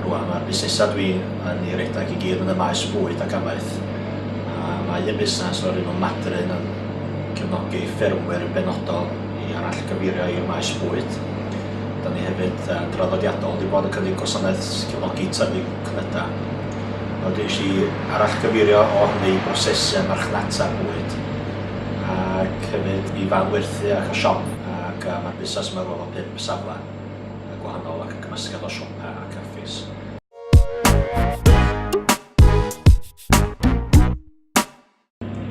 Rwan mae'r busnesau dwi yn ei redag i gyd yn y maes bwyd ac amaeth. A mae y busnes o'r un o Madryn yn cefnogi ffermwyr benodol i arall gyfeirio i'r maes bwyd. Da ni hefyd yn draddodiadol wedi bod yn cynnig gwasanaeth cefnogi tyfu cnydau. Nawr dwi eisiau arall gyfeirio o hynny i brosesu a marchnata bwyd ac hefyd i fan werthu ac y siop ac yy mae'r busnes yma rŵan mewn pump safle yy gwahanol ac yn gymysgedd o siopa a caffis.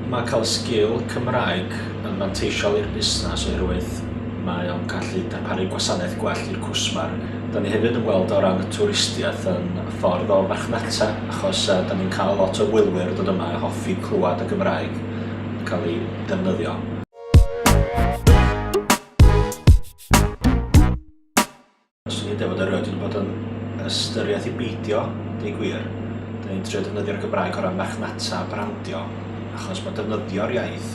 Mae cael sgil Cymraeg yn fanteisiol i'r busnes oherwydd mae o'n gallu darparu gwasanaeth gwell i'r cwsmer. Da ni hefyd yn gweld o ran y twristiaeth yn ffordd o farchnata achos yy da ni'n cael lot o wylwyr yn dod yma a hoffi clywed y Gymraeg. yn cael ei ddefnyddio. Fyswn i'n deud bod erioed wedi bod yn ystyriaeth i beidio, deud gwir. Dyn ni'n trio defnyddio'r Gymraeg o ran marchnata a brandio, achos mae defnyddio'r iaith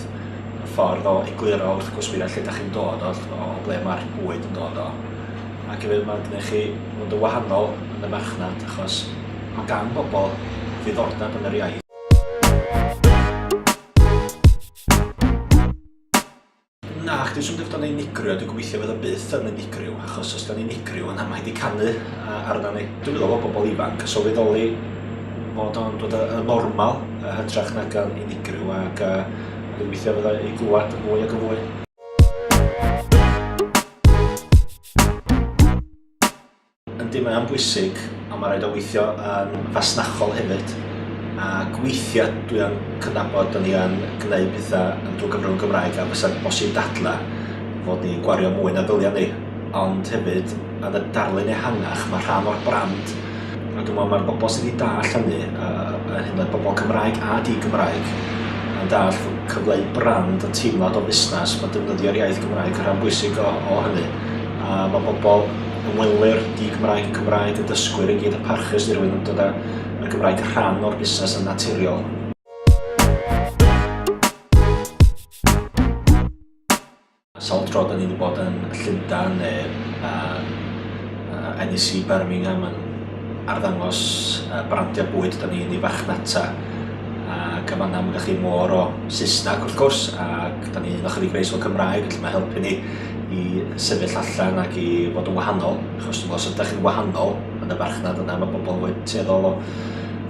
yn ffordd o egluro wrth gwsmeriaid lle da chi'n dod o, o ble mae'r bwyd yn dod o. Ac hefyd mae'n gwneud chi fod yn wahanol yn y marchnad, achos mae gan bobl ddiddordeb yn yr iaith. Na, chdi sy'n dyfod o'n ei nigrio, dwi'n gobeithio fod o byth yn ei nigrio, achos os da ni'n nigrio yna mae wedi canu arna ni. Dwi'n meddwl bod bobl ifanc yn sylweddoli fod o'n dod yn normal yn hytrach nag yn unigryw ac uh, dwi'n gobeithio fydda i glwad yn fwy ac yn fwy. Yndi, mae o'n bwysig, ond mae'n rhaid o weithio yn fasnachol hefyd. Ac weithiau dwi yn cydnabod bod ni yn gwneud pethau yn drwy gyfrwng y Gymraeg a fysa'n bosib dadla fod ni'n gwario mwy na ddyliau ni. Ond hefyd, yn y darlun ehangach, mae rhan o'r brand a dwi'n meddwl mae'r bobl sydd wedi dall hynny, yn hyn oed bobl Cymraeg a di-Gymraeg, yn dall cyfleu brand a teimlad o fusnes, mae defnyddio'r iaith Gymraeg yn rhan bwysig o, o hynny. A mae bobl Ymwelir di Gymraeg Cymraeg y dysgwyr i gyd y parchus dirwyn yn dod a y Gymraeg yn rhan o'r busnes yn naturiol. Sawl tro da ni wedi bod yn Llundain neu uh, uh, NEC Birmingham yn arddangos uh, brandiau bwyd da ni'n ei fachnata ac yn fanna mae chi môr o Saesneg wrth gwrs ac da ni'n ychydig reis o Cymraeg felly mae helpu ni i sefyll allan ac i fod yn wahanol, achos dwi'n meddwl, os ydych chi'n wahanol yn y farchnad yna, mae pobl yn tueddol o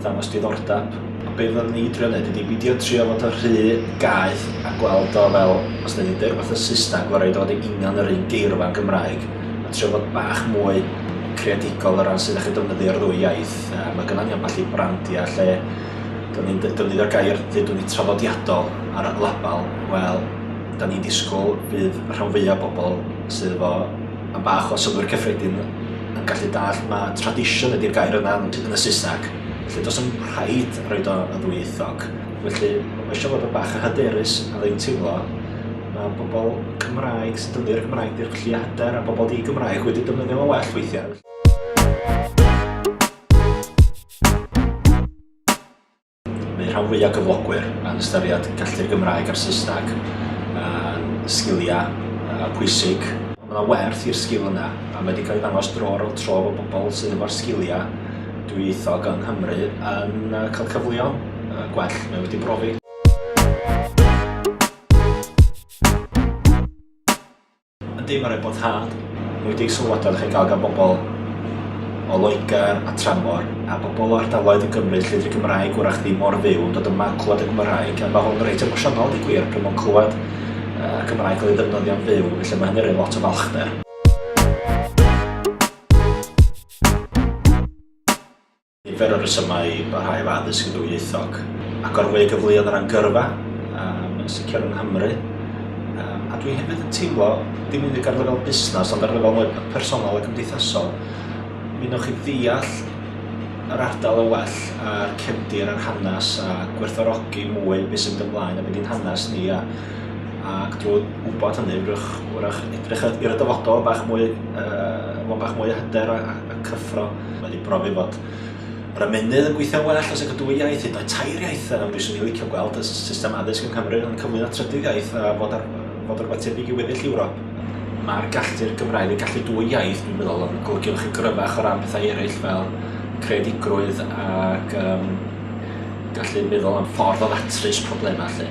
ddangos diddordeb. A be fyddwn ni drio wneud ydy bidio trio fod o rhy gaeth a gweld o fel, os da ni'n dweud rhywbeth yn Saesneg, gorau dod i union yr un geirfa yn Gymraeg, a trio fod bach mwy creadigol o ran sydd â chi defnyddio'r ddwy iaith. A mae gynnal ni ambell i brandiau lle da ni'n defnyddio'r gair, dydw ni traddodiadol ar y label, wel, 'dan ni'n disgwyl fydd rhan fwya' bobl sydd efo am bach o synnwyr cyffredin yn gallu dallt ma' tradition ydi'r gair yna yn yn y Saesneg. Felly does dim rhaid roid o yn ddwyieithog. Felly ma' isio fod yn bach yn hyderus a dwi'n teimlo ma' pobl Cymraeg sy'n defnyddio'r Gymraeg di'r gallu a hyder a pobl di-Gymraeg wedi defnyddio fo'n well weithiau. Mae rhan fwyaf cyflogwyr yn ystyried gallu'r Gymraeg a'r Saesneg yn sgiliau uh, pwysig. Mae yna werth i'r sgil yna, a mae wedi cael ei ddangos dro ar ôl tro bod pobl sydd efo'r sgiliau dwyieithog yng Nghymru yn uh, cael cyfleon uh, gwell mae wedi brofi. Yndi, mae'n rhaid bod hard. Enwedig sylwadau ydych chi'n cael gan bobl o Loegr a Tramor a bobl o ardaloedd yn Gymru lle dy'r Gymraeg wrach ddim mor fyw yn dod yma yn clywed y Gymraeg a mae hwn reit emosiynol yn y gwir pryd mae'n clywed uh, Gymraeg cael ei ddefnyddio'n fyw felly mae hynny'n rhoi lot o falchder. Nifer o resymau i barhau efo addysg ddwyieithog. Agor fwy o gyfleoedd o ran gyrfa, um, yn sicr yng Nghymru. Um, a dwi hefyd yn teimlo, dim unig ar lefel busnes, ond ar lefel mwy personol a gymdeithasol, mi newch chi ddeall yr ardal yn well a'r cefndir a'r hanes a gwerthorogi mwy beth sy'n mynd ymlaen a beth i'n hanes ni a ac drwy wybod hynny wrach, wrach edrych i'r dyfodol bach mwy, uh, bach mwy o hyder a, y cyffro wedi profi fod yr ymennydd yn gweithio'n well os ag y dwy iaith, hyd yn oed tair iaith, a fyswn i'n licio gweld y system addysg yng Nghymru yn cyflwyno trydydd iaith a fod, ar, fod o rhywbeth tebyg i weddill Ewrop. Mae'r gallu'r Gymraeg yn gallu dwy iaith, dwi'n meddwl, yn golygu lot yn gryfach o ran pethau eraill fel creadigrwydd ac um, gallu meddwl am ffordd o ddatrys problemau lle.